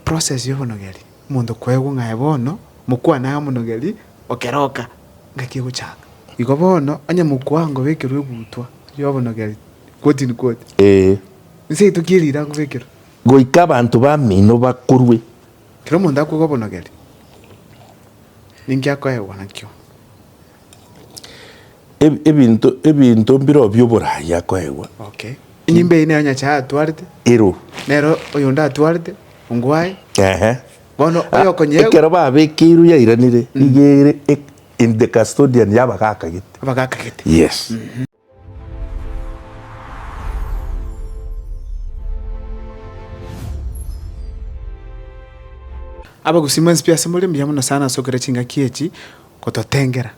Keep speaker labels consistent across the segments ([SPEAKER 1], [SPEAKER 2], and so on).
[SPEAKER 1] Process y'obonogeri, omonto kwaigwa ng'a aye bono mokwane aye omonogeri o keroka, ngaki egochaka. Igo bono, onye mokwane ngobekerwe egutwa y'obonogeri, quote in quote, Ee. Nseito ki erire agobekerwe? Goika abanto
[SPEAKER 2] b'amino bakorwe. Kera omonto
[SPEAKER 1] akoigwa obonogeri, ninki akoegwa nakio? Eb-
[SPEAKER 2] ebinto ebinto mbirobio by'oboraai akoegwa Okay. Enyimba
[SPEAKER 1] eye nero Nyasae atwarete, ero nero
[SPEAKER 2] oyonde
[SPEAKER 1] atwarete ongwae. ehe Bono Ah, oyokonyeegwa ekero babekeirwe
[SPEAKER 2] yairanire nigo ere e- in the custodian yabagakagete abagakagete.
[SPEAKER 1] yes Abagusii mwensi piasemore, mbuya mono sana ase okera ching'aki echi gototengera.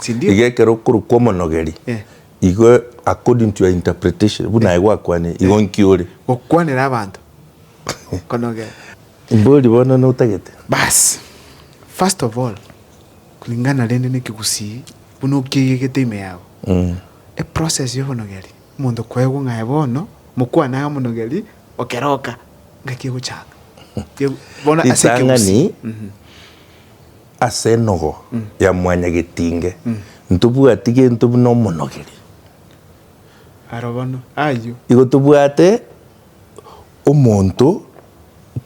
[SPEAKER 1] Sindio?
[SPEAKER 2] Iga ekero okorwa kw'omonogeri, Eh. igo according to your interpretation, buna aye gwakwanire, igo nki ore? Gokwanera abanto.
[SPEAKER 1] Konogera. Mbori
[SPEAKER 2] bono notagete? Bas.
[SPEAKER 1] First of all, kulingana rende n'ekegusii, buna okiegegete ime yabo. Eprocess y'obonogeri, omonto kwaegwa ng'a aye bono, mokwane aye omonogeri, okeroka, ngaki egochaka. Ye- bono ase ekegusii. Ritang'ani.
[SPEAKER 2] Ase enogo ya mwanyagetinge ntobwati gento buna omonogeri. Aro bono,
[SPEAKER 1] ayio. Igo tobwate
[SPEAKER 2] omonto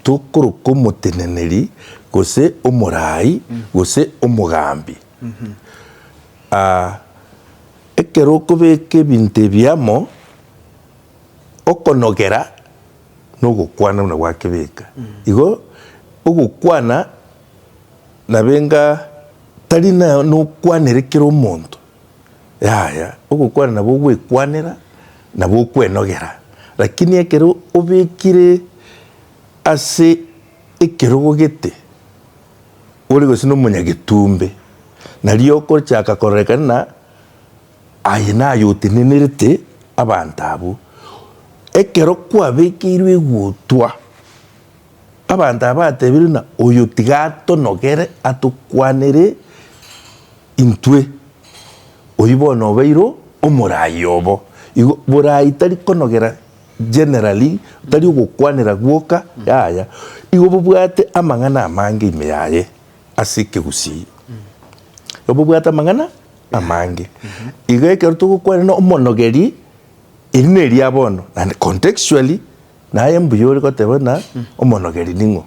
[SPEAKER 2] tokoroka omoteneneri, gose omoraai, gose omogambi. Aa, ekero okobeka ebinto ebi amo, okonogera nogokwana buna gwakebeka. Igo ogokwana. Nabenga tari nokwanere kera omonto, yaya, ogokwana nabo ogwekwanera nabo okwenogera, lakini ekero obekire ase ekerogo gete ore gose nomonyagetumbe nario okochaka kororekana na aye naye otenenerete abanto abwo. Ekero kwabekeirwe egutwa. Abanto aba batebirie ng'a, Oyo tiga atonogere atokwanere intwe, oyio bono obeire omoraai obo. Igo boraai tari konogera generally, tari ogokwanera gwoka, yaya, igo bobwate amang'ana amange ime yaye ase ekegusii. Igo bobwate amang'ana amange. Igo ekero togokwana ng'a omonogeri, eri neriya bono, naende contextually, Naye mbuya ore goteba ng'a omonogeri ning'o.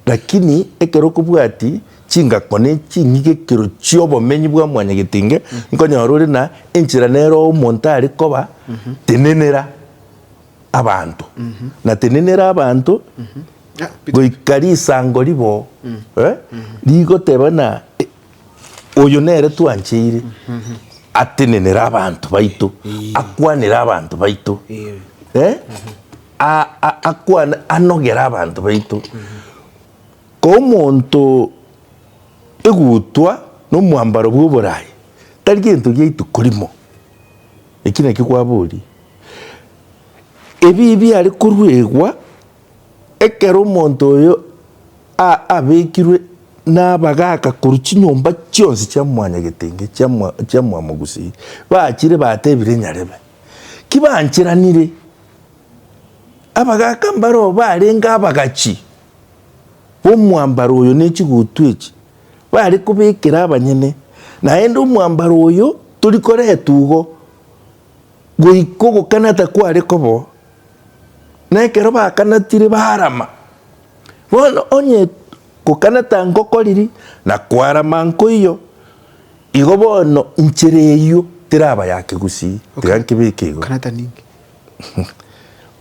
[SPEAKER 2] Lakini ekero okobwati chingako ne chinyigekero chi'obomenyi bwa mwanyagetenge, nkonyora ore na enchera nero omonto are koba tenenera abanto. Na tenenera abanto goika risango ribo rigoteba ng'a. Oyo nere twancheire atenenere abanto baito, akwanere abanto baito, eh, a- a- akwane anogere abanto baito. Komonto egutwa na omwambaro bw'oboraai tari gento gia ituko rimo, eki nakio kwaboria. Ebibe biare koruegwa. Ekero omonto oyo aabekirwe nabagaaka korwa chinyomba chionsi chia mwanyagetenge chia mwamogusii, bachire batebire nyarebe, Ki banchiranire? Abagaaka mbareo barenge abagachi b'omwambaro oyo ne chiguutu echi, bare kobekera abanyene, naende omwambaro oyo tori koretwa igo. Goika ogokana takware kobo, na ekero bakanatire barama. Bono onye gokana tangokoriri, na kwarama nkoiyo, igo bono inchera eyio teraba ya kegusii, tiga nkebeke igo.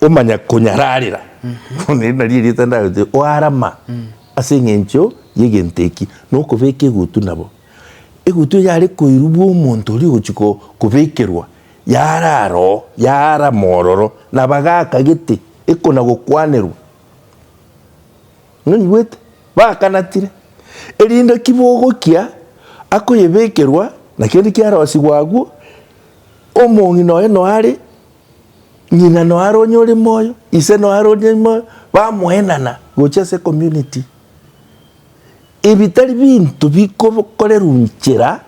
[SPEAKER 2] Omonyakonyararera, bono eri nario erieta ndagete, oarama ase eng'encho y'egento eki, nokobeka egutu nabo. Egutu eye yare koirwa bwa omonto oria ogochi ko, kobekerwa, yara aroo, yaarama ororo, na bagaka gete, ekona gokwanerwa. Nonyigwete? Bakanatire, erinde ki bogokia akoyebekerwa, na kende kiarosigwa agwo, omong'ina oye noare Ng'ina noare onye ore moyo, ise noare onye ore moyo, bamoenana gochia ase ecommunity. Ebi tari binto bikokorerwa nchera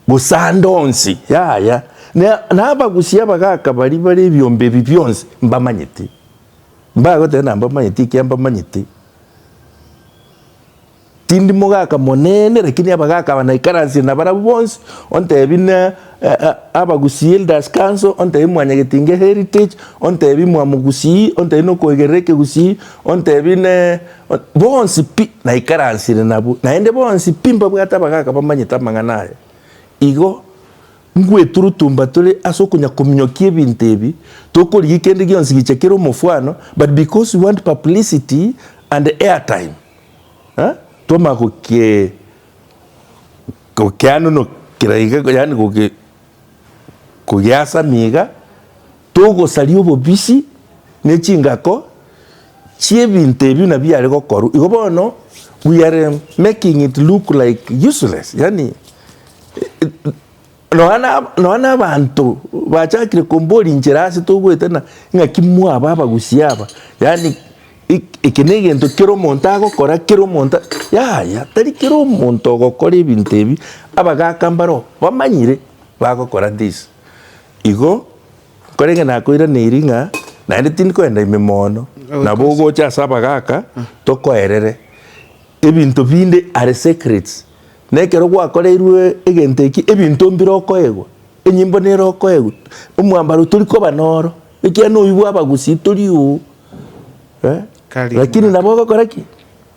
[SPEAKER 2] bosande onsi, yaya. Na abagusia abagaka baria bare ebiombe ebi bionsi mbamanyete, mbagoteba nambamanyete, ekiambamanyete. Tindi mogaka monene, lakini abagaka aba naikaransie nabarabwo bonsi, ontebi na abagusii elders council, ontebi mwanyagetinge heritage, ontebi mwamogusii, ontebi nokoigerera ekegusii, ontebi ne bonsi pi naikaransire nabwo, naende bonsi pi mbabwate abagaka bamanyete amang'ana aya. Igo ngweturutumba tore ase okonya kominyokia ebinto ebi, tokorigia kende gionsi gicha kere omofwano, but because we want publicity and airtime. Twamanya gokeanunokera iga, yaani kogeasamia iga, togosaria obobisi ne chingako chiebinto ebi buna biare gokorwa. Igo bono we are making it look like useless, yaani. Nonya nabaanto bachakire komboria inche ase togoeta ng'a ing'aki mwaba abagusii aba, yaani eke negento kera omonto agokora kera omonto, yaya tari kera omonto ogokora ebinto ebi abagaka mbaro bamanyire bagokora this. Igo nkorenge nakoiraneiri ng'a naende tindi koenda ime moono nabo ogocha ase abagaka tokoerere ebinto binde are secrets. Na ekero gwakoreirwe egento eki, ebinto mbire okoegwa, enyimbo nere okoegwa, omwambaro tori koba noro, ekiagera noibwe abagusii tori oo eh, Kari lakini omogaka. nabo ogokora ki?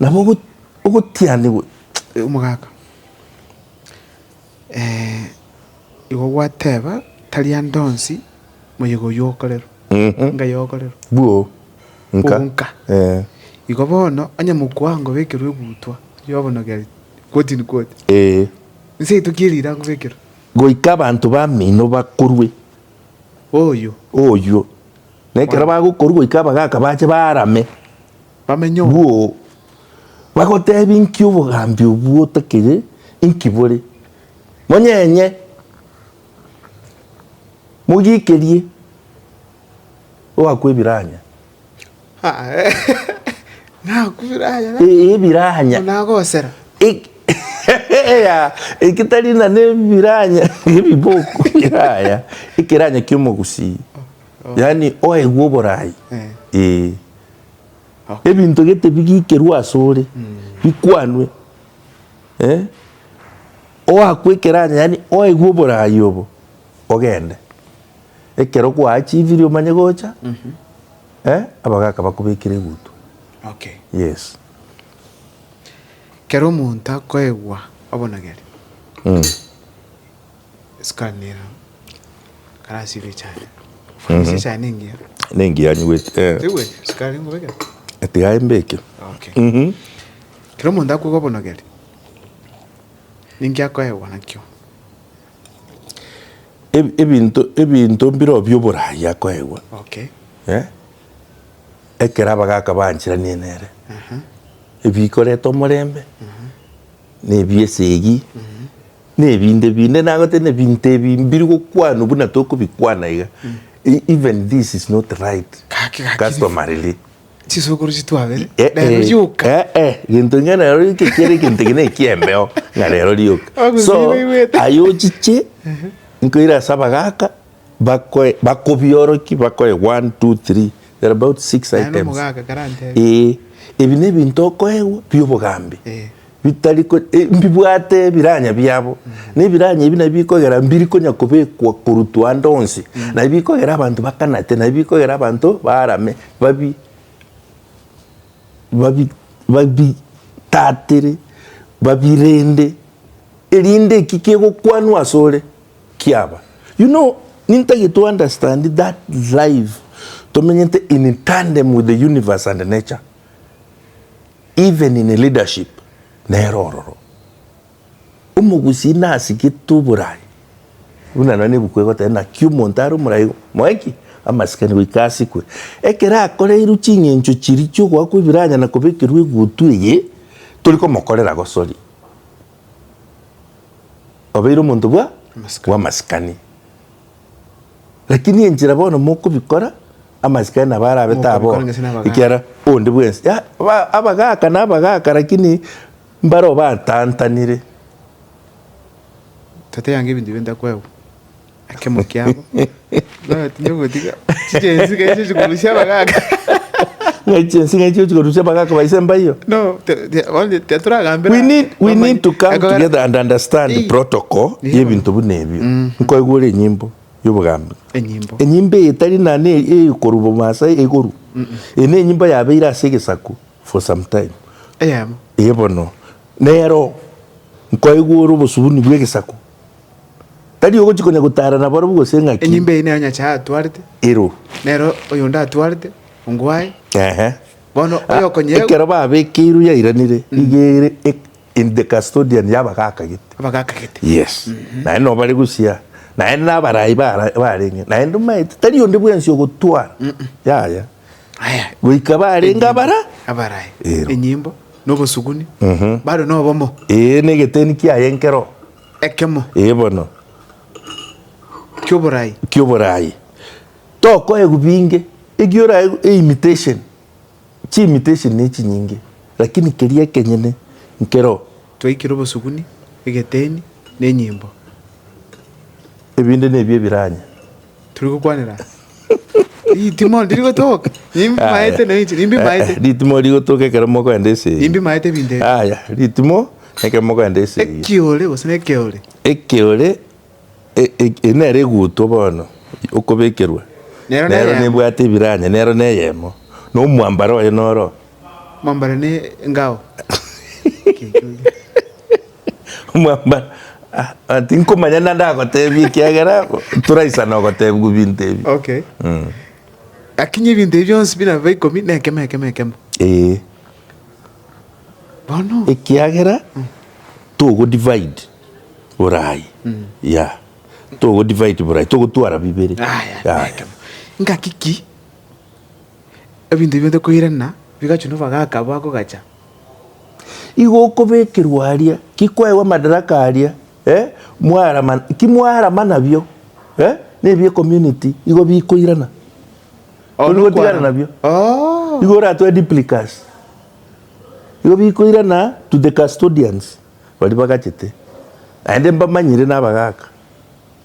[SPEAKER 2] Nabo ogo- ogotianigwa. Eh, omogaka
[SPEAKER 1] eh, igo gwateba tari ande onsi moyega oyio okorerwa Mhm. ngai okorerwa Bwo.
[SPEAKER 2] Nka. Bonka. Eh.
[SPEAKER 1] igo bono onye mokwango bekerwa egutwa yobono gari Ee. Goika abanto
[SPEAKER 2] b'amino bakorwe oyio, na ekero bagokorwa goika abagaaka bache baarame bwoo, bagoteebia, Inki obogambi obwo otakire? Inki bore? Monyenye, mogiikerie, ogakwa ebiranya.
[SPEAKER 1] Naku biranya na. Ee, ebiranya. Bono
[SPEAKER 2] nagosera. Ek- Yaya, eki tari na nebiranya ebiboko yaya ekeranya kiomogusii yaani oegwe oborai Eh. ee Okay. ebinto gete bigikerwe asore bikwanwe eh oakwe ekeranya yaani oegwe oborai obo ogende Ekero gwaachivirie omanye gocha, eh, abagaka bakobekire egutu. Okay.
[SPEAKER 1] Yes. Kero omonto akoegwa obonogeri, Mm. sukari nero karasibe echai. Ofwanise echai nengiya. Nengiya nywete, eh.
[SPEAKER 2] Tewete sukari
[SPEAKER 1] ngobekere? Tiga aye mbeke.
[SPEAKER 2] Okay. Mhm.
[SPEAKER 1] Kero omonto akoegwa obonogeri, ninki akoegwa nakio? Eb- ebinto ebinto mbiro bioboraai akoegwa Okay. eh,
[SPEAKER 2] ekero abagaka baancheranie nere ebikoreta omorembe na ebiesegi na ebinde binde nagotebia buna ebinto ebi mbiri gokwanwa buna tokobikwana iga E- even this is not right Gaki, gaki. customarily Chisukuru
[SPEAKER 1] chitu abere. Eh, eh, Rero rioka.
[SPEAKER 2] eh, eh,
[SPEAKER 1] gento inga nero
[SPEAKER 2] rioka ekiere egento eke nekiembeo ng'a rero rioka Ogusiba so igwete. aye ochiche nkoira ase abagaka bakoe bakobioroki bakoe one two three there are about six Naye items nomogaka karantebe. ee ebi nebinto okoegwa biobogambi Eh. bitari ko- e, mbibwate ebiranya biabo na ebiranya ebi nabio bikogera mbiri konya kobekwa korutwa ande onsi nabio bikogera abanto bakanate nabio bikogera abanto barame babi babi babi tatere babirende erinde eki kegokwanwa ase ore kiaba you know nintagete to understand that life tomenyete in tandem with the universe and nature. Even in leadership nero ororo. Omogusii nasigete oborai, buna nonya nebuku egoteba naki omonto are omorai moe ki? Amasikani goika asikwe. Ekero akoreirwe ching'encho chiria chiogoakwa ebiranyana kobekerwa egutu eye tori komokorera gosori, obeire omonto bwa amasikani. Lakini enchera bono mokobikora, amachiko aye nabo arabe Mokobikora taboo, gese nabagaaka. ekiagera onde bwensi ya, ba, abagaaka nabagaaka, lakini mbaro batantanire.
[SPEAKER 1] Tata yange ebinto bionde akoegwa ekemo kiabo. Bono tinde gotiga chiche ense iga ense chikorusia abagaaka. Ng'ai
[SPEAKER 2] chinsinga echi ochikorusia bagaka ba ise mbaiyo? No, te- te- onde
[SPEAKER 1] tetoragambera. We need,
[SPEAKER 2] we Bamanye- need to come Ekogera- together and understand Eh. protocol Nigo. y'ebinto buna ebio. Nkoigwere enyimbo y'obogambi. Enyimbo. Enyimbo eye tari nane eyokorwa Bomasai egoru. Eye ne enyimbo yabeire ase egesaku for some time. Eyemo. Eye bono. Nero nkoigwere obosubuni bw'egesaku Tari ogochia konya gotara nabarabwo gose ng'aki. Enyimba eye nero Nyasae atwarete.
[SPEAKER 1] Ero. Nero
[SPEAKER 2] oyonde
[SPEAKER 1] atwarete ongo aye. Ehe. Bono oyokonyegwa. Ekero babekeirwe
[SPEAKER 2] yairanire, iga ere in the custodian yabagaka gete. Abagaka gete. Yes. Mm -hmm. Naende no bare gusia. Naende nabarai barenge. Naende omaete tari onde bwensi ogotwara. Mm -mm. Yaya.
[SPEAKER 1] Goika barenge
[SPEAKER 2] abara abarae,
[SPEAKER 1] Ero. enyimbo, na obosuguni, bare nobomo, Ee, negeteni
[SPEAKER 2] kiaye enkero ekemo
[SPEAKER 1] ee bono
[SPEAKER 2] ki'oboraai.
[SPEAKER 1] ki'oboraai.
[SPEAKER 2] Tokoegwa binge, ekiya oraegwe eimitation, chiimitation nechinyinge, lakini keria ekenyene nkero. Twaikire obosuguni,
[SPEAKER 1] egeteni, na enyimbo.
[SPEAKER 2] Ebinde nebio ebiranya. Turi gokwanera.
[SPEAKER 1] Ritimo ndiri gotoka. Nimbi Aya. maete na inche. Nimbi Eh, eh, maete. ritimo rigotoka ekero
[SPEAKER 2] mokoenda ase eyio. Nimbi maete binde.
[SPEAKER 1] aya ritimo
[SPEAKER 2] ekero mokoenda ase eyio. Ekiore gose ne
[SPEAKER 1] keore. ekeore
[SPEAKER 2] e- e- e- nere egutwa bono okobekerwa Nero nero neyemo. nebwate ebiranya nero neyemo na omwambare oye noro Mambare ne
[SPEAKER 1] ngao.
[SPEAKER 2] Omwambara ah, tinkomanya na ndagotebia ekiagera toraisana ogotebigwa ebinto ebi. Okay.
[SPEAKER 1] Mm. Akinye ebinto ebi bionsi bire bibe ikomi na ekemo ekemo ekemo. Eh. Bono. Ekiagera
[SPEAKER 2] mm. togo divide borai. Mm. Yeah. Togo divide borai togo twara bibere. Ah, yeah. Ah, yeah. Ekemo.
[SPEAKER 1] Ngakiki ebinto ebi bionde koirana bigachu no bagaka bako gacha.
[SPEAKER 2] Igo okobekerwa aria, ki kwaegwa madaraka aria, eh, mwarama, ki mwarama nabio, eh, nebi ecommunity igo bikoirana. Igo bigotigara nabio. Oh. Igo oratwe duplicas. Igo bikoirana to the custodians. Bari bagachete. Naende mbamanyire nabagaka.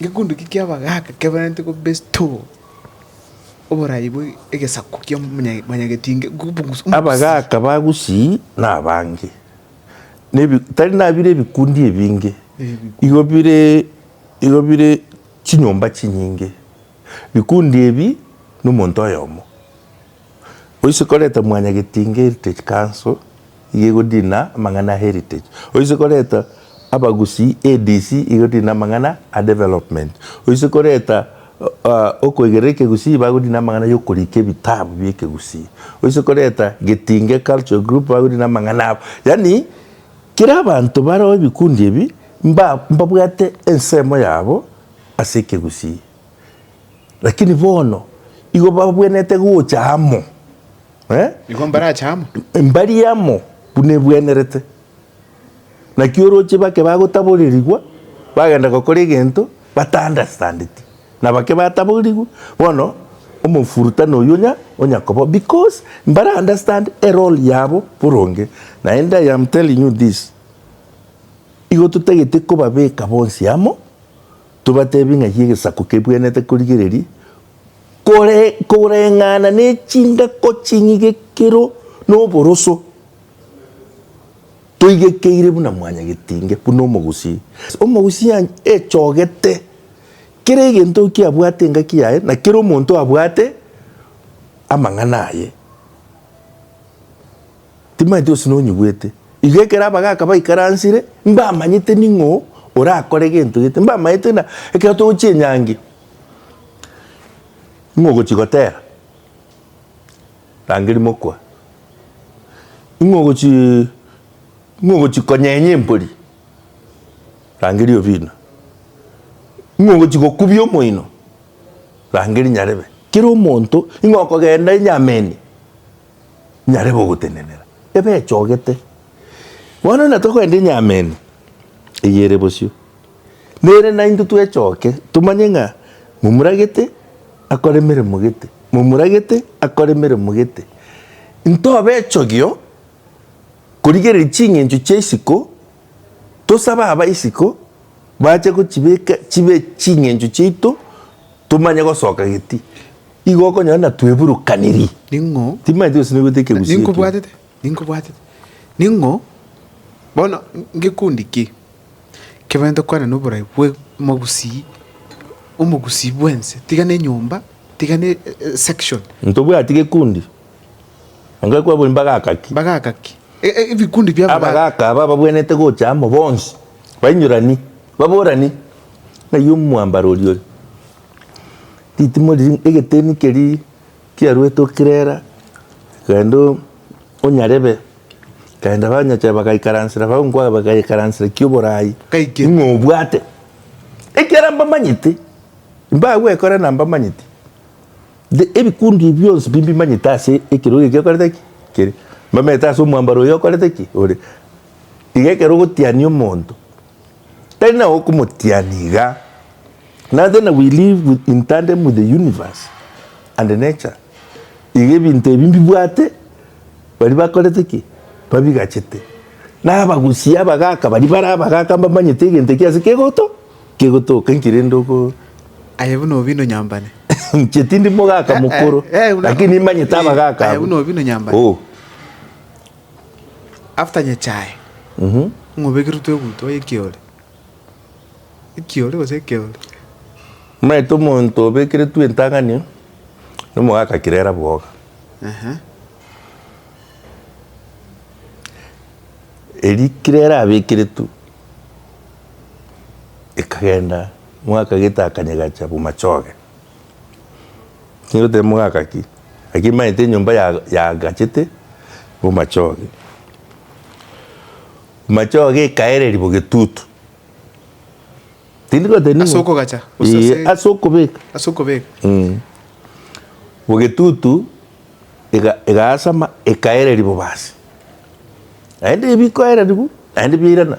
[SPEAKER 1] Ngekundi ki ki'abagaaka keberenete ko Bestow oborai bwe egesaku kia mwanyagetinge Gubbungs Umsc. Abagaaka
[SPEAKER 2] ba Gusii nabange, tari nabire ebikundi ebinge, igo bire chinyomba chinyinge. Bikundi ebi nomonto oyomo. Oise koreta mwanyagetinga Heritage Council iga egodina amang'ana a Heritage. Oise koreta abagusii ADC iga egodina amang'ana a Development. Oise koreta okoigerera ekegusii bagodina amang'ana yokorika ebitabu biekegusii. Oise koreta Getinge Cultural Group bagodina amang'ana abo. Yaani kera abanto bareo ebikundi ebi mbabwate ensemo yabo ase ekegusii. Lakini bono igo babwenerete gocha amo, eh?
[SPEAKER 1] Nigo mbarache amo. Mbari amo
[SPEAKER 2] buna ebwenerete. Naki oroche bake bagotaborerigwa, bagenda gokora egento bata-understandeti. Na bake bataborigwe, bono omofurutana oyio onya onya koba because mbara understand erole yabo boronge. Naende I am telling you this, igo totagete kobabeka bonsi amo, Tobateebie ng'ai egesaku kebwenerete korigereria koreng'ana ne chingako ching'igekero noboroso, toigekeire buna mwanyagetinge, buna omogusii. Omogusii echogete kera egento ki abwate engaki yaye, na kera omonto abwate amang'ana aye. Timaeti gose nonyigwete. Iga ekero abagaaka baikaransire, mbamanyete ning'o orakore gento gete, mbamanyete na ekero togochia enyangi, ning'o ogochia gotera, rangeria mokwa, ning'o ogochi ning'o ogochi konyenya empori, rangeria obina, ning'o ogochi gokubia omoino, rangeria nyarebe. Kera omonto ning'o okogenda enyameni, nyare gogotenenera, ebechogete. Bono natokoenda enyameni eye ere bosio, nere naintwe twechoke tomanye ng'a momuragete akore emeremo gete, momuragete akore emeremo gete. Ntobe echogio korigereria ching'encho chia isiko, tosabe aba isiko bache gochibeka chibe ching'encho chiaito tomanye gosoka geti. Igo okonyora natweburukaniri. Ning'o? Timaeti
[SPEAKER 1] gose negoita ekegusii
[SPEAKER 2] ekio. Ninkobwatete, ninkobwatete.
[SPEAKER 1] Ning'o? Bono ngekundi ki kebwente kwana noborai bwe mogusii, omogusii bwense, tiga nenyomba, tiga ne section. Ntobwati gekundi.
[SPEAKER 2] Onga kwabori mbagaka ki? Mbagaka ki? E, e, ebikundi
[SPEAKER 1] bia Abagaka aba babwenete
[SPEAKER 2] gocha amo bonsi. Bainyorani. Baborani. Ng'ai omwambaro oria ore? Ritimo riria egeteni keria kiaruete okirera rende onyarebe rende abanyacha bagaikaransera abwo nkwana bagaikaransera ekia oborai Kaikire. ng'a obwate ekiara mbamanyete mbagwekora na mbamanyete The- ebikundi ebi bionsi bi mbimanyete ase ekero eke giakorete ki kere mbamanyete ase omwambaro oyo okorete ki ore iga ekero ogotiania omonto. Tari na okomotiani iga. Nothing na we live with in tandem with the universe and nature. Iga ebinto ebi mbibwate bari bakorete ki? Babigachete. Na abagusi abagaka bari bare abagaka mbamanyete egento eki ase kegoto kegotoka inki rende oko Aye buna
[SPEAKER 1] obino nyambane. inche tindi
[SPEAKER 2] mogaka mokoro Eh, eh, buna- lakini nimanyete abagaka Aye abwo. buna obino nyambane.
[SPEAKER 1] Oh. After nyechae ng'obegerwe twegutwa ekiore ekiore gose ekeore. Omanyete
[SPEAKER 2] omonto obekeretwe entang'ani na omogaka kirera bwoga. Eri kirera abekeretwe ekagenda omogaka gete akanyegacha bw'machoge. Nigoteba mogaka ki? Naki emanyete enyomba yagachete omochoge. Omochoge ekaereria bo getutu. Tindi goteba ning'o. Ase okogacha. Ee,
[SPEAKER 1] ase okobeka. Ase okobeka. Mm. Bo
[SPEAKER 2] getutu egaasama ekaereria bobasi. Naende ebikoereriwa naende biairana.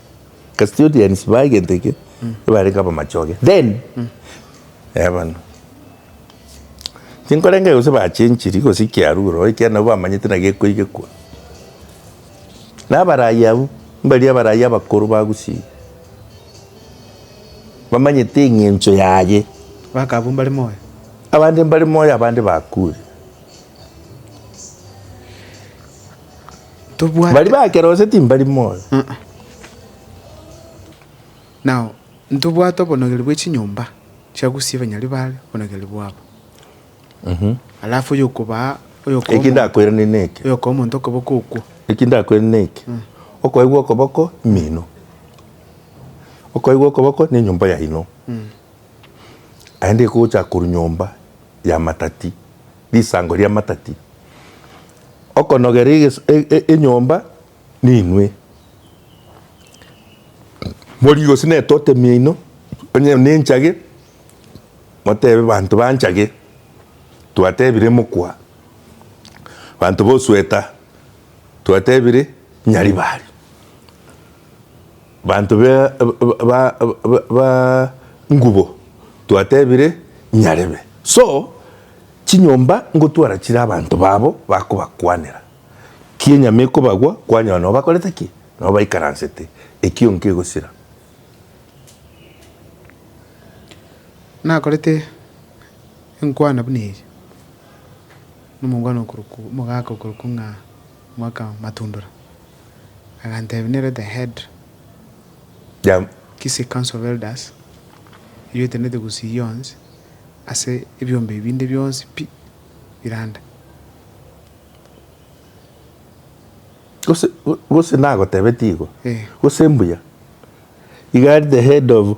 [SPEAKER 2] Custodians ba egento eke ebarenge abamachoge then eh bano tinkorenga gose ba chenchiri gose kiaruro ekiagera nabo bamanyete na gekoigekwa na abarayi abwo mbaria abarayi abakoro ba Gusii bamanyete eng'encho yaye Baka abwo mbare
[SPEAKER 1] moyo. abande mbare
[SPEAKER 2] moyo abande bakure.
[SPEAKER 1] Tobwate. Baria bakera gose timbari
[SPEAKER 2] moyo. Aa.
[SPEAKER 1] Nao ntobwate obonogeru bwe chinyomba chia gusia ebanyari baare obonogeru bwabo. Alafu oyokobaa, oyokoa Eki omonto, ndakoirane
[SPEAKER 2] neke. oyokoa omonto okoboko
[SPEAKER 1] okwo. Eki ndakoirane neke.
[SPEAKER 2] Okoigwa okoboko mino. Okoigwa okoboko nenyomba yaino. Naende egocha korwa nyomba y'amatati, risango ri'amatati, okonogera enyomba ninwe. Morie gose n'etote miaino, onye nenchage, motebe abanto banchage, twatebire mokwa, abanto b'osweta, twatebire nyaribari. Banto be ba ngubo twatebire Nyarebe, so chinyomba ngotwara chire abanto babo bakobakwanera. Ki enyama ekobagwa kwanyora nobo bakorete ki? Nobo baikaransete, ekio nkegosira.
[SPEAKER 1] Nakorete enkwana buna eye nomongwana okorokwa omogaka okorokwa ng'a Mwakamatundora. Aganteebia, Nere the head ya Kisii Council of Elders, erio etenete Gusii yonsi ase ebiombe ebinde bionsi pi birande. Gose
[SPEAKER 2] gose nagotebetie igo? Ee. Gose mbuya. Iga ari the head of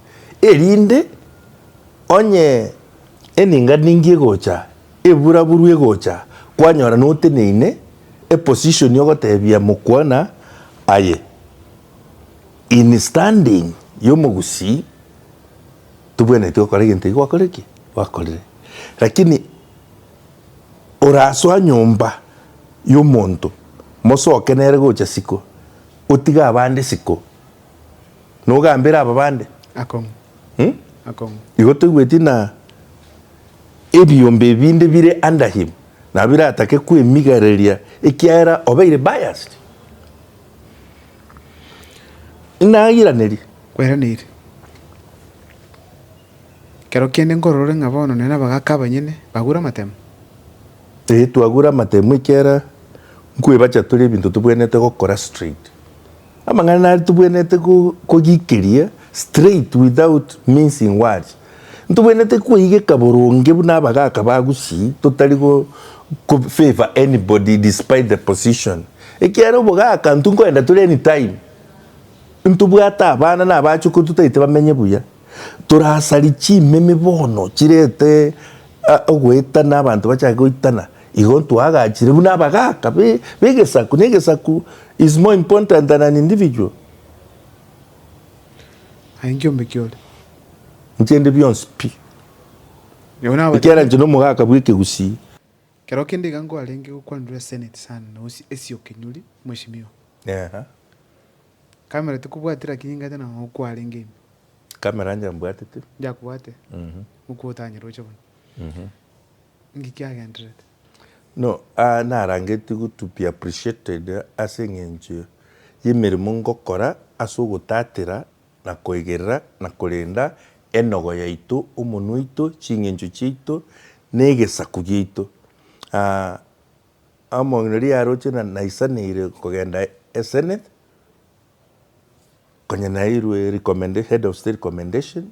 [SPEAKER 2] erinde onye eninga ningi egocha, ebura buru egocha, kwanyora noteneine eposition ogotebia mokwana aye in standing yomogusii tobwenereti gokora egento ekio gwakore ki? Gwakorire. Lakini orasoa nyomba yomonto mosoke nere gocha siko, otige abande siko. nogambere aba bande. Akong'u.
[SPEAKER 1] Hmm? Akong'u. Igo toigweti
[SPEAKER 2] na ebiombe ebinde bire under him nabo biratake kwemigareria ekiagera obeire biased. Nairanerie. Kweraneiri.
[SPEAKER 1] Kero kende nkororore ng'a bono nere nabagaka abanyene bagure amatemo. Ee,
[SPEAKER 2] twagure amatemo ekiagera nkwebacha tore ebinto tobwenerete gokora straight. Amang'ana nare tobwenerete kogikeria straight without mincing words. Ntobwenerete koigeka boronge buna abagaka ba Gusii totari go favour anybody despite the position. Ekiagera obogaka intwe nkoenda tore anytime. Ntobwate abana na abachukuru totaete bamenye buya. Torasari chimemi bono chirete ogoetana abanto bachake goitana. Igo ntwaagachire buna abagaaka b'egesaku, na egesaku is more important than an individual.
[SPEAKER 1] Aye inki ombeke ore? Inche
[SPEAKER 2] ndi bionsi pi. Nabo
[SPEAKER 1] nababatirie. Ekiagera inche nomogaaka
[SPEAKER 2] bw'ekegusii. Keroo kende
[SPEAKER 1] iga nkwarenge gokwanirwa Senate sana na Usi Essie Okenyori, Mweshimiwa. Eeh. Camera tokobwatire lakini ingata nao nkwarenge ime. Camera
[SPEAKER 2] inche mbwatete. Njakobwate?
[SPEAKER 1] Mokwo otanyare oche bono. Inki kiagenderete? No,
[SPEAKER 2] aa narangetie to be appreciated ase eng'encho y'emeremo ngokora ase ogotatera na koigerera na korenda enogo yaito, omonwa oito, ching'encho chiaito, na egesaku giaito. Aa omong'ina riria aroche na naisaneire kogenda e Senate, konya nairwe recommended, head of state recommendation,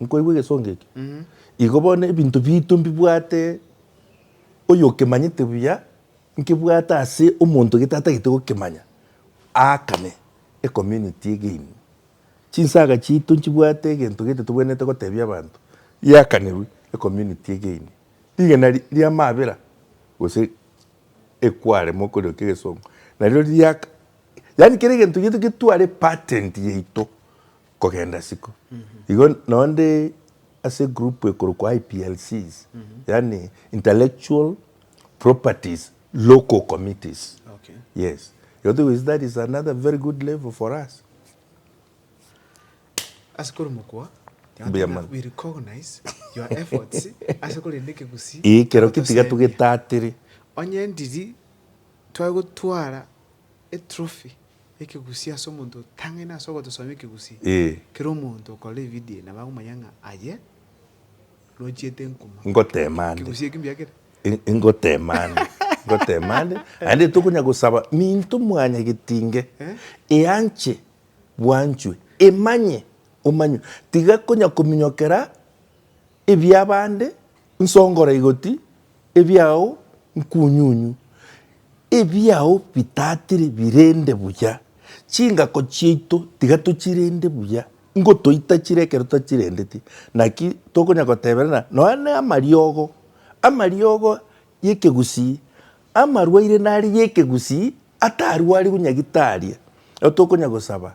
[SPEAKER 2] Nkoigwa egesongo eke? Igo bono ebinto biaito mbibwate oyo okemanyete buya, nkebwate ase omonto gete atagete gokemanya, aakane ecommunity egeine. Chinsaga chiaito nchibwate egento gete tobwenerete gotebia abanto, yakanerwe ecommunity egeine. Rigena ri'amabera gose equare mokoriokia egesongo, nario riria yaani kera egento giaito getware patent yaito. kogenda isiko. Igo nao nde ase egroup ekorokwa IPLCs, yaani Intellectual Properties Local Committees, yes.
[SPEAKER 1] Igo
[SPEAKER 2] togochi that is another very good level for us. Ase
[SPEAKER 1] korwa mokwa, Mbuya mono. we recognize your efforts ase korenda ekegusii. Ee, ekero ketiga
[SPEAKER 2] togetatire. Onye ndiri
[SPEAKER 1] tware gotwara Etrofi y'ekegusii ase omonto otang'aine ase ogotosomia ekegusii. Kera omonto okorora evidio eye nabo agomanya ng'a aye nochiete enkuma. Ngoteema ande. Ekegusii eki
[SPEAKER 2] mbuya kere?
[SPEAKER 1] Ngoteema
[SPEAKER 2] ande. Ngoteema ande. Naende tokonya gosaba minto mwanya getinge eanche bwanchwe emanye omanywe. Tiga konya kominyokera Ebi'abande nsongora igoti, ebiao nkunyunyu, ebiao bitatire birende buya. Chingako chiaito tiga tochirende buya, ngotoita chire ekero totachirendeti. Naki tokonya goteberana nonya n'amariogo, amariogo y'ekegusii, amarwaire nare y'ekegusii atarwariwu nyagitari. Ekero tokonya gosaba,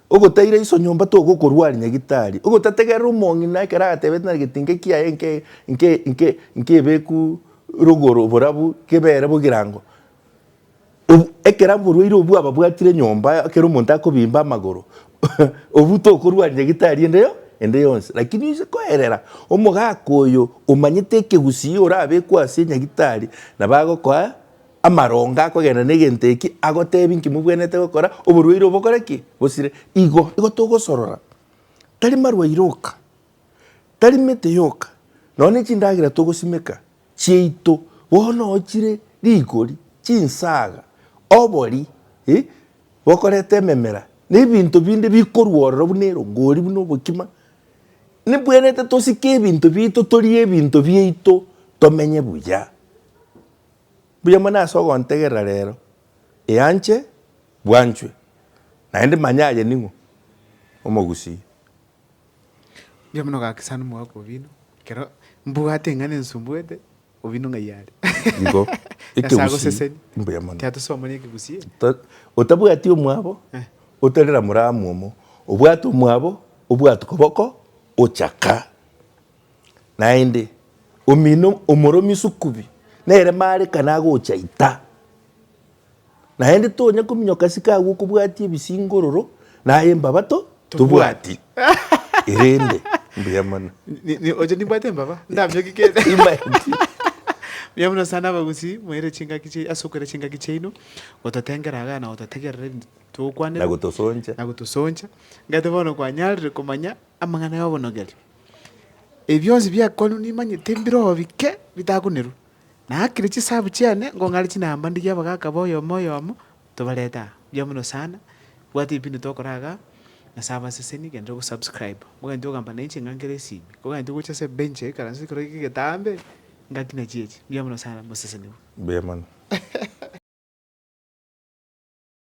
[SPEAKER 2] Ogotaira iso nyomba togokorua are nyagitari. Ogotategerera omong'ina ekero agatebete nare gete inke kiaye nke nke nke nkebeku rogoro borabu kebere bogirango. Obu ekera mborwaire obwo ababwatire nyomba ekero omonto akobimba amagoro obwo tokorua are nyagitari ende yo ende yonsi. Lakini oise koerera omogaka oyo omanyete ekegusii orabekwe ase nyagitari nabo agokoa. Amaronga akogenda negento eki agotebi nki mobwenerete gokora, oborwaire obokore ki? Bosire. Igo igo togosorora, tari marwaire oka, tari mete yoka, nonya nechindagera togosimeka chiaito, bono ochire rigori, chinsaga, obori, eh, bokoreta ememera, nebinto binde bikorwa ororo buna erongori buna obokima, nibwenerete tosike ebinto biaito torie ebinto biaito tomenye buya. Mbuya mono ase ogontegerera reero, eanche bwanchwe, naende manya aye ning'o omogusii.
[SPEAKER 1] Mbuya mono ogakisana omogaka obino, ekero mbwate eng'ana ensumbuete, obino ng'ai are? Igo, Nyasae
[SPEAKER 2] ekegusii.
[SPEAKER 1] agosesenie. Mbuya mono.
[SPEAKER 2] Tiatosomoria ekegusii eke.
[SPEAKER 1] To- otabwati
[SPEAKER 2] omwabo Eh. otarera mora amomo, obwate omwabo obwate koboko ochaka. Naende, omino omoromi sukubi nere marekane agocha ita. Naende tonya kominyoka ase kagwo okobwatia ebisingororo na aye mbabato tobwati. Erende, mbuya mono. Ni- ni- oche
[SPEAKER 1] nimbwate embaba ndaminyoki kende Imagine.
[SPEAKER 2] buya
[SPEAKER 1] buna sana abagusii moire chingaki chi- ase okoira chingaki chiaino gototengera iga na gototegerera ebinto togokwanera Na gotosoncha. na
[SPEAKER 2] gotosoncha ngete bono
[SPEAKER 1] kwanyarire komanya Amang'ana y'obonogereria. Ebi bionsi biakorwa nimanyete mbirobike bitakonerwa. Naakire chisahabu chiane, nkong'are chinamba ndigie abagaka ba oyomo oyomo, tobarete aa. Mbuya mono sana, bwata ebipindi tokora igaa, nase abaseseni genda ogosubscriba. Nkogenda ogamba nainche ng'a nkere esimi, nkogenda ogocha ase ebench ya ekeranse ekero gika egetambe, ngaki nachiechi. Mbuya mono
[SPEAKER 2] sana,
[SPEAKER 1] moseseniwe. Mbuya mono.